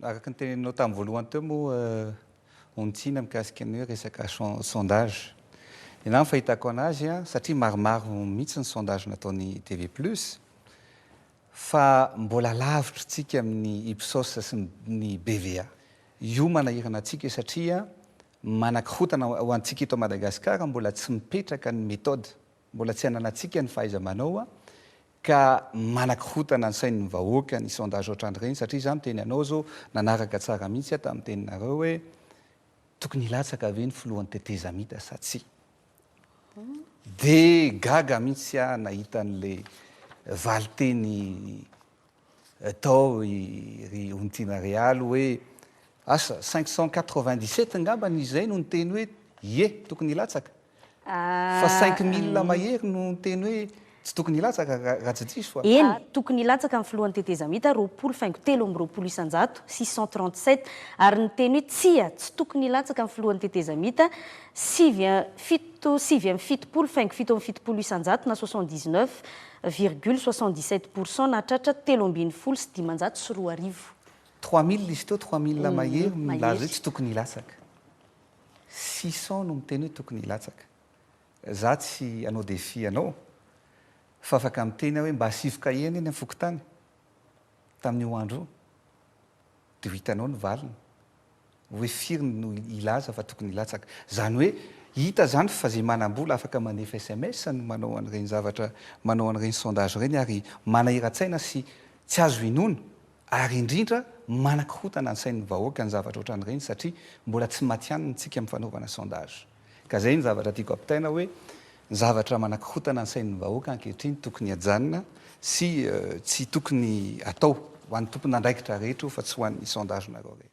araka ny teneninao tamin'ny voalohany teo moa eh, ontsina mikasika ny hoe resaka sondage. Ianao fahitako anazy, satria maromaro mihitsy ny sondage nataony TV Plus, Fa mbola lavitry tsika amin'ny Ipsos sy ny BVA. Io manahirana antsika satria manakorotana ho antsika eto Madagascar mbola tsy mipetraka ny méthode, mbola tsy ananatsika ny fahaizamanao ka manakorotana ny sain'ny vahoaka ny sondage otrany ireny satria izaho niteny anao zao nanaraka tsara mihitsy aho tamin'ny teninareo hoe tokony hilatsaka ve ny filohan'ny tetezamita sa tsia. Dia gaga mihitsy aho nahita an'le valinteny tao ry Ontina Real hoe asa cinq cent quatre-vingt-dix-sept angambany izay no niteny hoe ie tokony hilatsaka fa cinq mille mahery no niteny hoe Tsy tokony hilatsaka raha tsy diso fa. Eny, tokony hilatsaka ny filohan'ny tetezamita roapolo faingo telo amby roapolo isan-jato sy cent trente sept ary niteny hoe tsia, tsy tokony hilatsaka ny filohan'ny tetezamita sivy, fito, sivy amby fitopolo faingo fito amby fitopolo isan-jato na soixante dix neuf virgule soixante dix sept pour cent nahatratra telo ambin'ny folo sy dimanjato sy roa arivo. Trois mille izy teo, trois mille mahery no nilaza hoe tsy tokony hilatsaka. Six cents no miteny hoe tokony hilatsaka. Za tsy anao défi anao fa afaka miteny aho hoe mba asivy kahie anie ny am fokontany tamin'io andro io de ho hitanao ny valiny hoe firy no hilaza fa tokony hilatsaka zany hoe hita zany fa ze manambola afaka mandefa sms no manao an'ireny zavatra manao an'ireny sondage ireny ary manahiratsaina sy tsy azo inoana ary indrindra manakorontana ny sain'ny vahoaka ny zavatra otran'ireny satria mbola tsy matihanina tsika am fanaovana sondage. Ka izay no zavatra tiako ampitaina hoe ny zavatra manakorontana ny sain'ny vahoaka ankehitriny tokony hajanona sy tsy tokony atao, ho an'ny tompon'andraikitra rehetra io fa tsy ho an'ny sondage-nareo rehetra.